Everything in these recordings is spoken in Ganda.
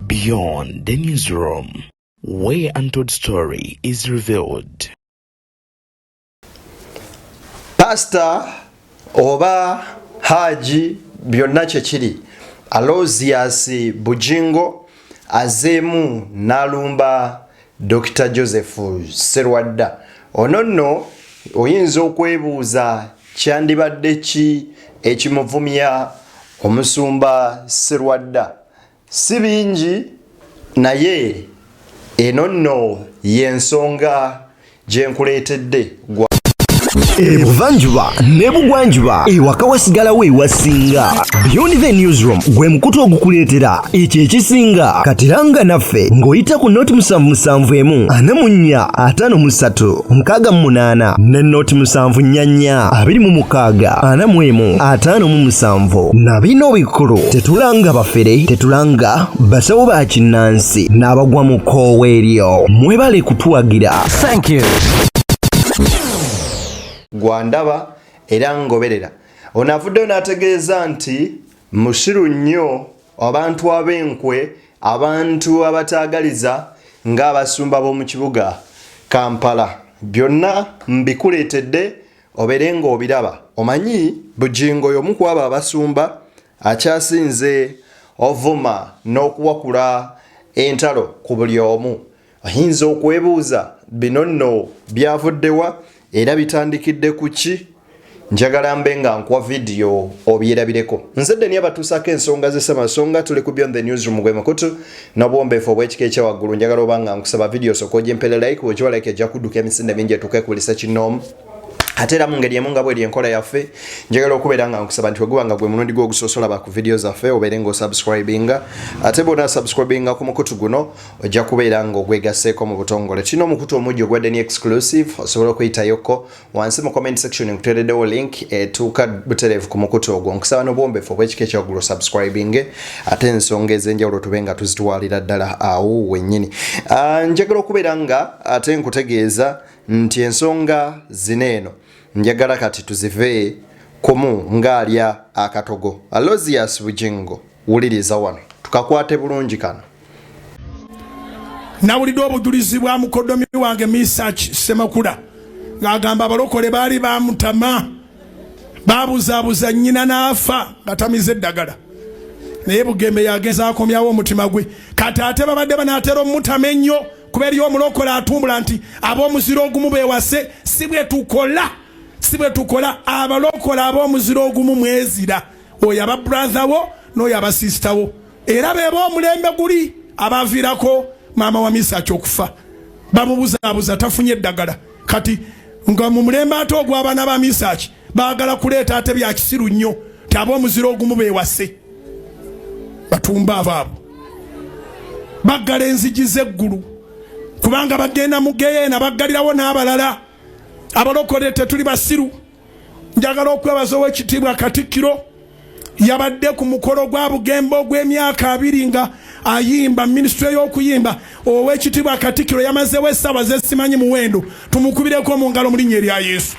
Beyond the newsroom, where untold story is revealed. Pastor oba Haji byonna kyekiri Alozias Bujingo azeemu n'alumba Dokita Joseph Sserwadda, ono nno oyinza okwebuuza kyandibadde ki ekimuvumya omusumba Sserwadda? Si bingi naye eno nno y'ensonga gyenkuleetedde gwa ebuvanjuba nebugwanjuba ewaka wasigalawo ewasinga beyond the newsroom gwe mukutu ogukuleetera ekyo ekisinga katiranga naffe ng'oyita ku noti musanvu musanvu emu ana mu nnya ataano mu ssatu mukaaga mu munaana ne noti musanvu nnya nnya abiri mu mukaaga ana mu emu ataano mu musanvu na bino bikulu tetulanga bafere tetulanga basawo ba kinnansi amasasi n'abagwa mu kkoowa eryo mwebale kutuwagira thank you gwandaba era ngoberera ono avuddeyo n'ategeeza nti mushiru nnyo abantu ab'enkwe abantu abataagaliza ng'abasumba b'omu kibuga kampala byonna mbikuleetedde obeere ng'obiraba omanyi bugingo y'omu ku abo abasumba Akyasinze ovuma n'okuwakula entalo ku buli omu. Oyinza okwebuuza bino nno byavudde wa era bitandikidde ku ki? Njagala mbe nga nkuwa vidiyo obyerabireko. Nze Deni abatuusaako ensonga ze Ssemasonga tuli ku Beyond the Newsroom gwe mukutu n'obuwombeefu obw'ekika ekya waggulu. Njagala oba nga nkusaba vidiyo osooke ogimpere like, bw'ogiwa like ejja kudduka emisinde mingi etuuke ku buli ssekinnoomu. ate era mu ngeri emu nga bweri enkola yaffe njagala okubeera nga nkusaba nti weguba nga gwe mulundi gwo ogusosola ba ku vidiyo zaffe obeere nga osubscribinga ate bwona subscribinga ku mukutu guno ojja kubeera nga ogwegaseeko mu butongole tulina omukutu omujja ogwa deni exclusive osobola okuyitayoko wansi mu comment section nkuteereddewo link etuuka butereevu ku mukutu ogwo nkusaba n'obuwombefu obw'ekika ekyaggulu subscribinge ate ensonga ez'enjawulo tube nga tuzitwalira ddala awo wennyini ah, njagala okubeera nga ate nkutegeeza nti ensonga zina eno njagala kati tuzive kumu ng'alya akatogo alosias bujingo wuliriza wano tukakwate bulungi kano nawulidde obujulizi bwa mukodomi wange misach semakula ng'agamba abalokole baali bamutama babuzabuza nyina n'afa nga tamize eddagala naye bugembe yagenza akomyawo omutima gwe kati ate babadde banaatera omutama ennyo kuba eriyo omulokole atumbula nti ab'omuzira ogumu bewase si bwe tukola si bwe tukola abalokole ab'omuzira ogumu mwezira oyo aba brother wo n'oyo aba sister wo era beba omulembe guli abaviirako maama wa misaki okufa bamubuzaabuza tafunye eddagala kati nga mu mulembe ate ogw'abaana ba misaki bagala kuleeta ate bya kisiru nnyo ti aba omuziro ogumu bewase batumba abo abo baggala enzigi z'eggulu kubanga bagenda mu geyeena baggalirawo n'abalala abalokole tetuli basiru njagala okwebaza owekitiibwa katikkiro yabadde ku mukolo gwa bugembe ogw'emyaka abiri nga ayimba minisitule y'okuyimba ow'ekitiibwa katikiro yamazewo essaawa zesimanyi muwendo tumukubireko mu ngalo mu linnya erya yesu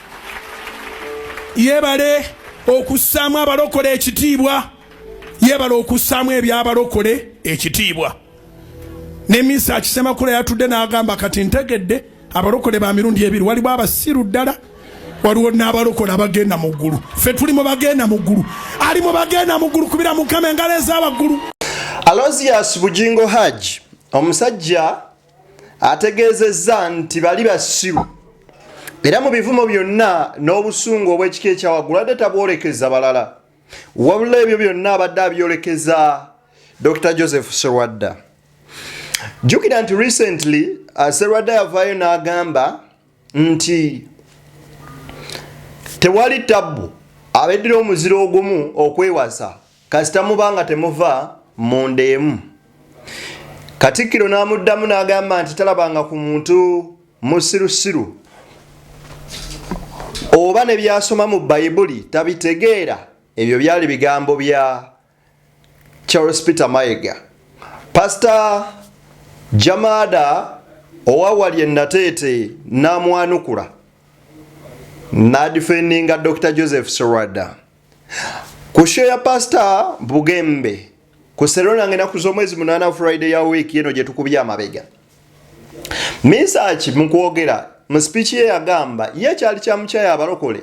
yebale okussaamu abalokole ekitiibwa yebale okussaamu ebyabalokole ekitiibwa ne minsi akisemakula yatudde n'agamba kati ntegedde abalokole ba mirundi ebiri waliwo abasiru ddala waliwo n'abalokola abagenda mu ggulu ffe tuli mu bagenda mu ggulu ali mu bagenda mu ggulu kubira mukama engalo ez'abaggulu alozias bugingo hajj omusajja ategeezezza nti bali basiru era mu bivumo byonna n'obusungu obw'ekika ekyawaggulu adde tabwolekeza balala wabula ebyo byonna abadde abyolekeza dr joseph serwadda jukira nti recently uh, serwadda yavaayo n'agamba nti tewali tabbu abeddira omuziro ogumu okwewasa kasita muba nga temuva mu ndeemu katikkiro n'amuddamu n'agamba nti talabanga ku muntu musirusiru oba ne byasoma mu bayibuli tabitegeera ebyo byali bigambo bya charles peter mayega pasita jamada owawali enateete namwanukula nadifendinga dr joseph sorada Ku show ya Pastor Bugembe ku Serona ngena ku z'omwezi munana Friday ya week yeno gye tukubye amabega. Misaki mu kwogera mu speech ye yagamba ye kyali kya mukyaya abalokole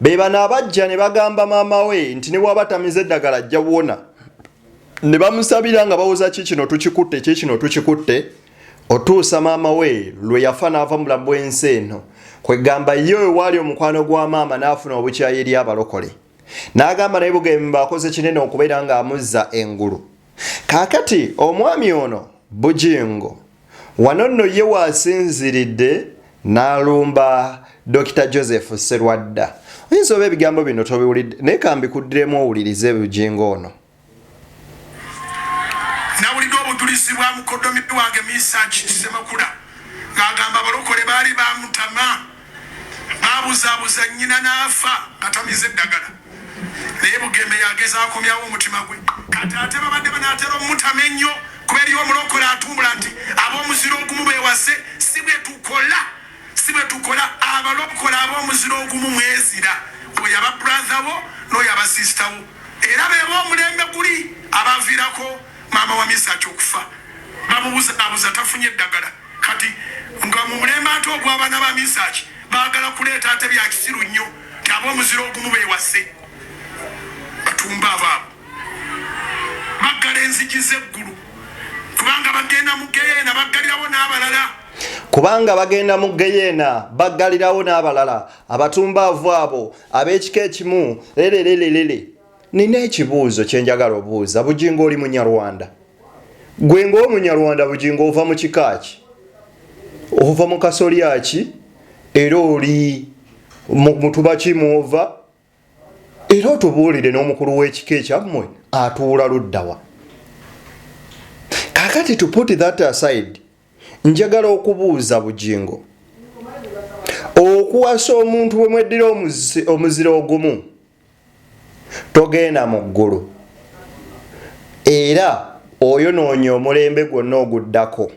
be bana abajja ne bagamba maama we nti ne bwaba tamize eddagala ajja buwona ne bamusabira nga bawoza ki kino tukikutte ki kino tukikutte otuusa maama we lwe yafa n'ava mubulamu bw'ensi eno kwegamba ye wewaali omukwano gwa maama n'afuna obukyayi eri abalokole n'agamba naye bugemba akoze kinene okubeera ng'amuzza engulu kaakati omwami ono bujingo wano nno ye waasinziridde n'alumba dokita joseph serwadda oyinza oba ebigambo bino tobiwulidde naye kambikuddiremu owulirize bujingo ono Nawulidde obujulizi bwa mukoddomi wange Misaaki Ssemakula ng'agamba abalokole baali bamutama, baabuzaabuza nnyina n'afa nga tamize ddagala. Naye Bugembe yageza akomyawo omutima gwe. Kati ate babadde banaatera omutama ennyo kuba eriyo omulokole atumbula nti ab'omuziro ogumu beewase. Si bwe tukola, si bwe tukola. Abalokole ab'omuziro ogumu mwezira, oyo aba bradha wo n'oyo aba sisita wo. Era bebo omulembe guli abavirako maama wa Mesach okufa bamubuzabuza tafunye eddagala kati nga mumulembe ate ogwabana ba Mesach bagala kuleeta ate byakisiru nnyo nti abomuzira ogumu bewase batumba abaabo baggala enzigi zeggulu kubanga bagenda mu geyeena baggalirawo n'abalala kubanga bagenda mu geyeena baggalirawo n'abalala abatumbaavu abo ab'ekika ekimu lelelelelele nina ekibuuzo kyenjagala obuuza bujingo oli munyarwanda gwe ngaomunyarwanda bujingo ova mu kika ki ova mu kasolya ki era oli mutuba ki mwova era otubuulire n'omukulu w'ekika ekyammwe atuula luddawa kakati to put that aside Njagala okubuuza Bugingo, okuwasa omuntu bwe mweddira omuzira ogumu togenda mu ggulu era oyonoonya omulembe gwonna oguddako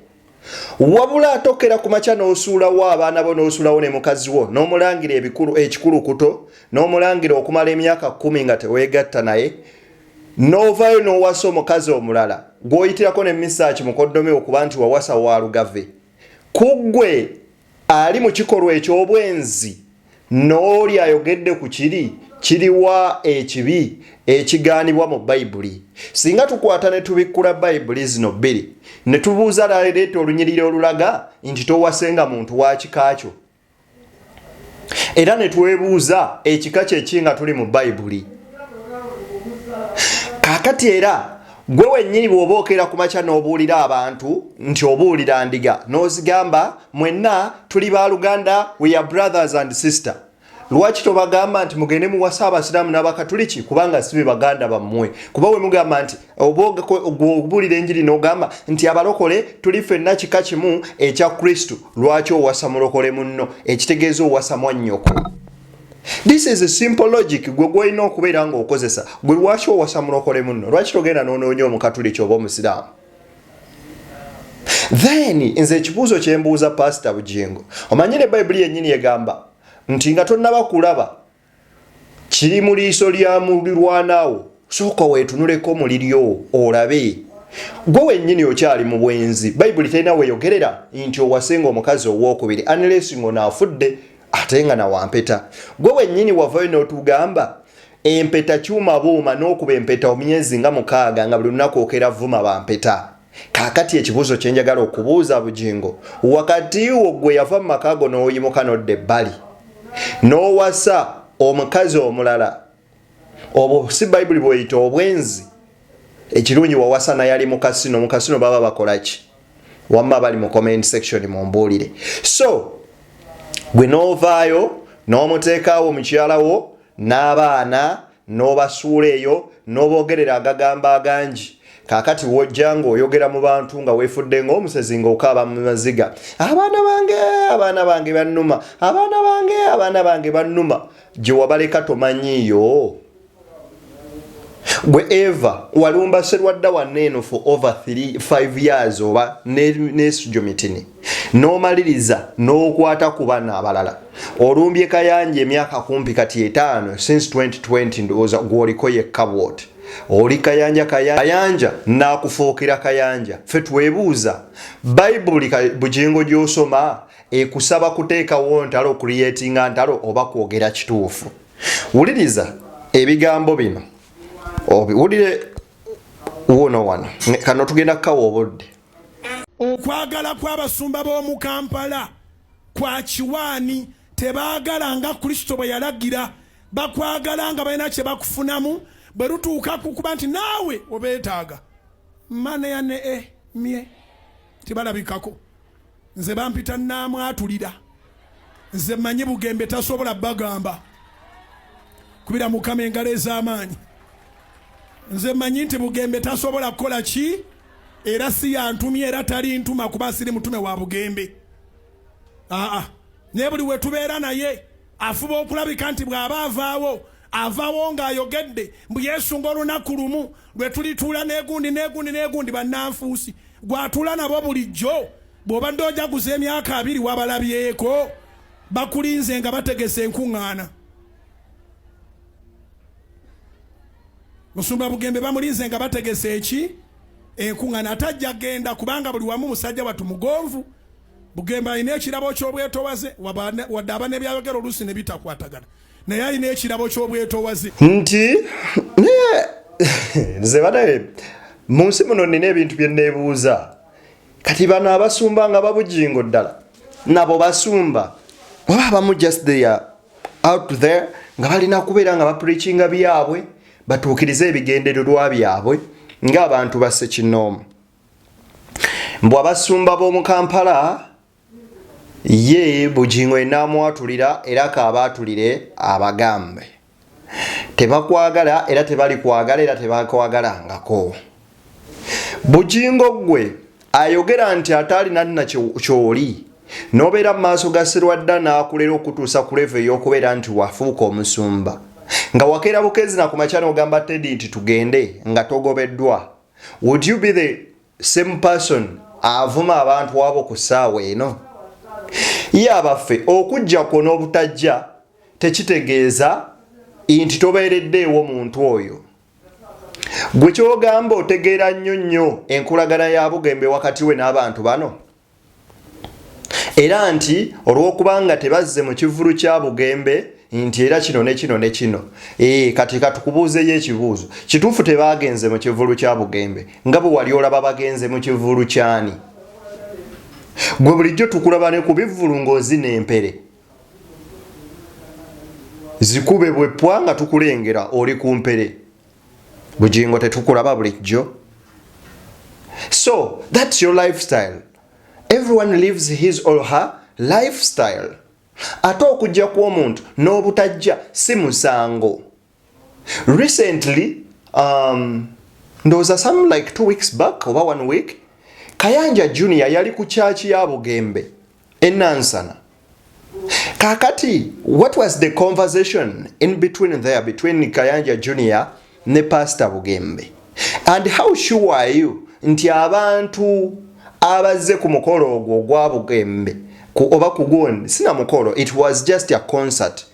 wabula atokera ku makya n'osuulawo abaana bo n'osuulawo ne mukazi wo n'omulangira ebikulu ekikulukuto n'omulangira okumala emyaka kkumi nga teweegatta naye n'ovaayo n'owasa omukazi omulala gw'oyitirako ne misaaki mukoddomi wo kuba nti wawasa wa lugave ku ggwe ali mu kikolwa eky'obwenzi n'oli ayogedde ku kiri kiriwa ekibi ekigaanibwa mu bayibuli singa tukwata ne tubikkula bayibuli zino bbiri ne tubuuza laleeta olunyiriri olulaga nti towasenga muntu wa kika kyo era ne twebuuza ekika kyeki nga tuli mu bayibuli kakati era gwe wennyini bw'oba okeera ku makya n'obuulira abantu nti obuulira ndiga n'ozigamba mwenna tuli ba luganda weya brothers and sister lwaki tobagamba nti mugende muwasa abasiraamu n'abakatuliki kubanga si be baganda bammwe kuba we mugamba nti oba okubuulira enjiri n'ogamba nti abalokole tuli fenna kika kimu ekya kristu lwaki owasa mulokole munno ekitegeeza owasa mwannyoko this is a simple logic gwe gwolina okubeera ng'okozesa gwe lwaki owasa mulokole munno lwaki togenda n'onoonya omukatuliki oba omusiraamu then nze ekibuuzo kyembuuza pasita bugingo omanyire bayibuli yennyini egamba nti nga tonnaba kulaba kiri mu liiso lya mulirwanawo sooka weetunuleko mu liryo olabe gwe wennyini okyali mu bwenzi bayibuli terina weyogerera nti owasenga omukazi owokubiri anlesi ng'ono afudde ate nga nawampeta gwe wennyini wavayo n'otugamba empeta kyuma buuma n'okuba empeta omyezi nga mukaaga nga buli lunaku okera vuma bampeta kakati ekibuuzo kyenjagala okubuuza bugingo wakati wo gwe yava mu maka go n'oyimuka nodda ebbali n'owasa omukazi omulala obwo si bayibuli bweyita obwenzi ekirungi wawasa naye ali mukasino mukasino baba bakolaki wamma bali mu comment section mumbuulire so gwe n'ovaayo n'omuteekaawo mukyalawo n'abaana N'obasuula eyo n'oboogerera agagambo agangi. Kaakati w'ojja ng'oyogera mu bantu nga weefudde ng'omusezi ng'okaaba mu maziga, Abaana bange, abaana bange bannuma, abaana bange, abaana bange bannuma. Gye wabaleka tomanyiiyo? Gwe Eva, walumba Sserwadda wanno eno for over three, five years oba ne, ne Sujomitini. n'omaliriza n'okwata ku bana abalala olumbye kayanja emyaka kumpi kati etaano since 2020 ndowooza gwoliko yekka bwoti oli kayanja kayanja nakufuukira kayanja fe twebuuza bayibuli bugingo gyosoma ekusaba kuteekawo ntalo okuliyetinga ntalo oba kwogera kituufu wuliriza ebigambo bino obiwulire wuuno wano kano tugenda kukawa obudde Okwagala kw'abasumba b'omu Kampala kwa kiwaani. Tebaagala nga Kristo bwe yalagira, bakwagala nga balina kye bakufunamu bwe lutuuka ku kuba nti naawe obeetaaga. Maneya ne e mye tibalabikako. nze bampita naamwatulira nze manyi bugembe tasobola bagamba kubira mukama engalo ez'amaanyi nze manyi nti bugembe tasobola kukola ki era si yantumye era tali ntuma kuba siri mutume wa bugembe aa naye buli wetubeera naye afuba okulabika nti bw'aba avaawo avawo ng'ayogedde mbu yesunga olunaku lumu lwe tulituula n'egundi n'egundi n'egundi bannanfuusi gw'atuula nabo bulijjo bw'obadde ojaguza emyaka abiri wabalabyeko bakulinze nga bategese enkuŋŋaana musumba bugembe bamulinze nga bategese eki enkuŋŋaana atajja genda kubanga buli wamu musajja watu mugonvu Bugembe alina ekirabo ky'obwetowaze wadde aba nebyayogera oluusi ne bitakwatagana naye alina ekirabo ky'obwetowaze nti naye nze banaye mu nsi muno nina ebintu bye neebuuza kati bano abasumba nga babujingo ddala nabo basumba oba abamu just there out there nga balina kubeera nga bapreachinga byabwe batuukirize ebigendererwa byabwe ng'abantu basse kinoomu mbu abasumba b'omu kampala ye bugingo enaamwatulira era kaabaatulire abagambe tebakwagala era tebali kwagala era tebakwagalangako bugingo ggwe ayogera nti ate alina nna kyoli n'obeera mu maaso ga sirwadda n'akulera okutuusa ku levo ey'okubeera nti wafuuka omusumba nga wakeera bukeezi na ku makya n'ogamba tedi nti tugende nga togobeddwa Would you be the same person avuma abantu abo ku ssaawa eno? Ye abaffe okujja kwo n'obutajja tekitegeeza nti tobeereddeewo muntu oyo. Gwe kyogamba otegeera nnyo nnyo enkolagana ya bugembe wakati we n'abantu bano? era nti olw'okubanga tebazze mu kivulu kya bugembe nti era kino ne kino ne kino ee eh, kati katukubuuzeyo ekibuuzo kituufu tebaagenze mu kivulu kya bugembe nga bwe wali olaba bagenze mu kivulu kyani gwe bulijjo tukulaba ne ku bivvulu ng'ozina empere zikube bwepwa nga tukulengera oli ku mpere bugingo tetukulaba bulijjo so thats your lifestyle everyone lives his or her lifestyle ate okujja kw'omuntu n'obutajja si musango recently um, ndowooza some like two weeks back oba one week kayanja junior yali ku kyaki ya bugembe enansana kakati what was the conversation in between there between kayanja junior ne pastor bugembe and how sure are you nti abantu abazze ku mukolo ogwo ogwa bugembe oba kugundi sina mukolo it was just a concert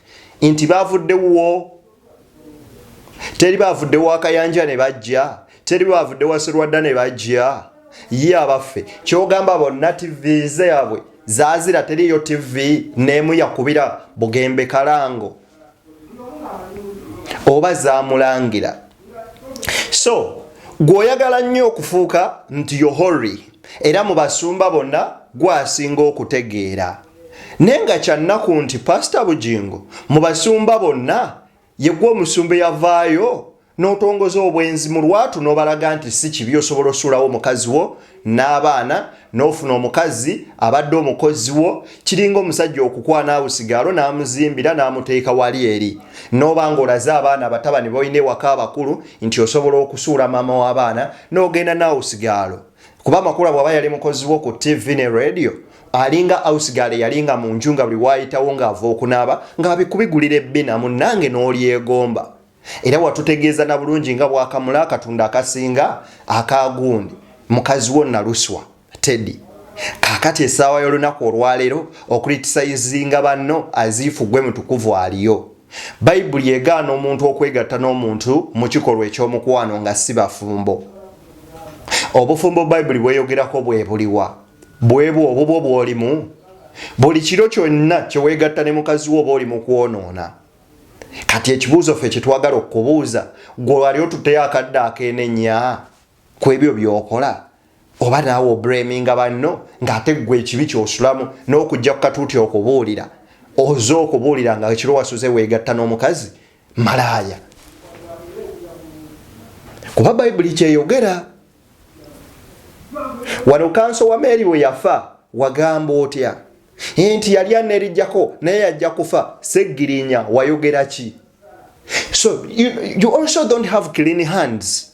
nti bavudde wuwo teri bavudde wakayanja ne bajja teri bavudde waserwadda ne bajja ye abaffe kyogamba bonna tv zabwe zazira teriyo tv nemu yakubira bugembe kalango oba zamulangira so gweoyagala nnyo okufuuka nti yohori era mu basumba bonna gwasinga okutegeera Naye nga kyannaku nti Pasita Bugingo mu basumba bonna yegwe omusumba eyavaayo n'otongoza obwenzi mu lwatu n'obalaga nti si kibi osobola osuulawo omukazi wo n'abaana n'ofuna omukazi abadde omukozi wo kiringa omusajja okukwana awo sigaalo n'amuzimbira n'amuteeka wali eri n'oba ng'olaze abaana abatabani balina ewaka abakulu nti osobola okusuula maama w'abaana n'ogenda naawo sigaalo kuba makula bwaba yali mukozi wo ku tv ne radio alinga ausgale yalinga mu nju nga buli waayitawo ng'ava okunaaba ng'abikubigulira ebbina munnange n'olyegomba era watutegeeza na bulungi nga bwakamula akatunda akasinga akaagundi mukazi wo naluswa teddy kakati esaawa y'olunaku olwaleero okulitisayizinga banno aziifu gwe mutukuvu aliyo Bayibuli egaana omuntu okwegatta n'omuntu mu kikolwa eky'omukwano nga si bafumbo. Obufumbo Bayibuli bweyogerako bwe buliwa? Bwebwo obubwo bw'olimu? Buli kiro kyonna kye weegatta ne mukazi wo oba oli mu kwonoona? Kati ekibuuzo ffe kye twagala okukubuuza, gwe wali otutteyo akadde ak'enenya ku ebyo by'okola? oba naawe obreminga banno ng'ate ggwe ekibi kyosulamu n'okujja ku katuuti okubuulira oze okubuulira nga ekiro wasuze weegatta n'omukazi malaaya kuba bayibuli kyeyogera wano kanso wa meeri bwe yafa wagamba otya nti yali anerijjako naye yajja kufa seggirinya wayogera ki so you, you also don't have clean hands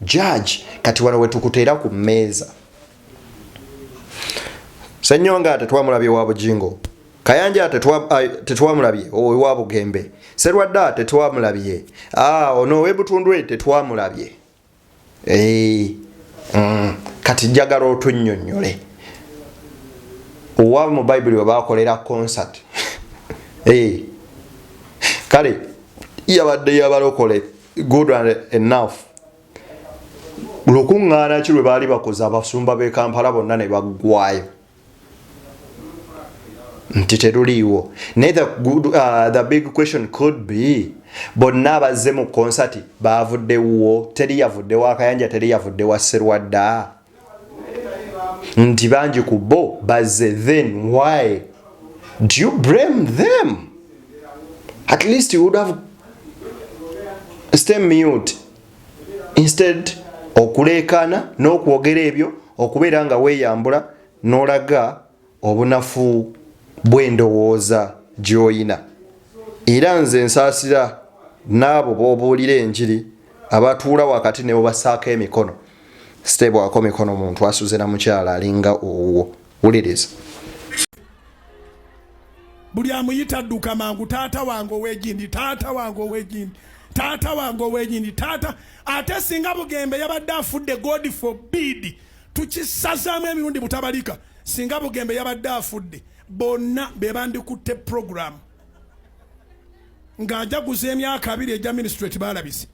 Judge, kati wano wetukuteera ku mmeeza. Senyonga tetwamulabye wa Bujingo. Kayanja tetwamulabye owa Bugembe. Serwadda tetwamulabye. Ah, ono owebutundwe tetwamulabye. Eh, mm, kati njagala otunnyonnyole. Owa mu Bayibuli we baakolera concert. Eh. Kale yabadde yabalokola good and enough lukuŋŋaana ki lwe baali bakoze abasumba b'e kampala bonna ne baggwayo nti teruliiwo naye the, good, uh, the big question could be bonna abazze mu konsati baavuddewo teri yavudde wa kayanja teri yavudde wa serwadda nti bangi ku bo bazze then why do you blame them at least you would have stay mute instead okuleekaana n'okwogera ebyo okubeera nga weeyambula n'olaga obunafu bw'endowooza gy'oyina. Era nze nsaasira n'abo b'obuulira enjiri abatuula wakati ne bubasaako emikono. Siteebwako mikono muntu asuze na mukyala alinga owuwo. Wuliriza. Buli amuyita adduka mangu, taata wange ow'egindi, taata wange ow'egindi, taata wange ow'egindi, taata. Ate singa Bugembe yabadde afudde, God forbid! tukisazaamu emirundi butabalika singa bugembe yabadde afudde bonna bebandikutte program ng'ajaguza emyaka abiri egya ministrate balabise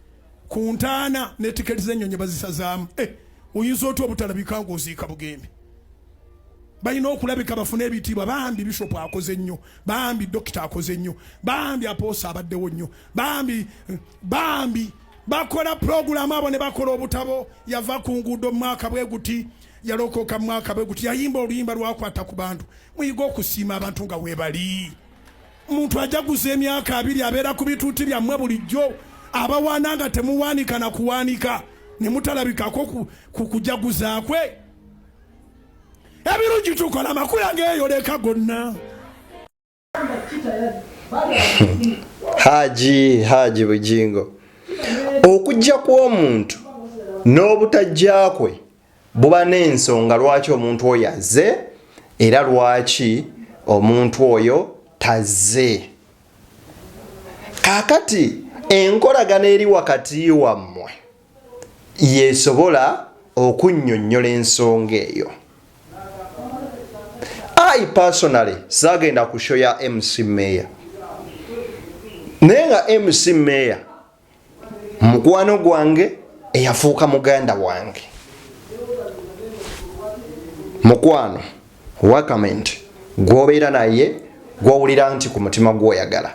ku ntaana ne tiketi z'ennyonyi bazisazaamu eh, oyinza otya obutalabika ng'oziika bugembe balina okulabika bafune ebitiibwa bambi bishop akoze nnyo bambi dokita akoze nnyo bambi apoosa abaddewo nnyo bambi eh, bambi bakola pulogulaamu abo ne bakola obutabo yava ku nguudo mu mwaka bwe guti yalokoka mu mwaka bwe guti yayimba oluyimba lwakwata ku bantu muyiga okusiima abantu nga webali omuntu ajaguza emyaka abiri abeera ku bituuti byammwe bulijjo abawaana nga temuwaanika na kuwaanika ne mutalabikako ku kujaguza kwe ebirungi tukola amakula geeyoleka gonna haji haji bujingo okujja kw'omuntu n'obutajja kwe buba n'ensonga lwaki omuntu oyo azze era lwaki omuntu oyo tazze kakati enkolagana eri wakati wammwe yesobola okunnyonnyola ensonga eyo. I personally saagenda ku show ya MC Mayor naye nga MC Mayor mukwano gwange eyafuuka muganda wange mukwano wakament gwobeera naye gwowulira nti ku mutima gwoyagala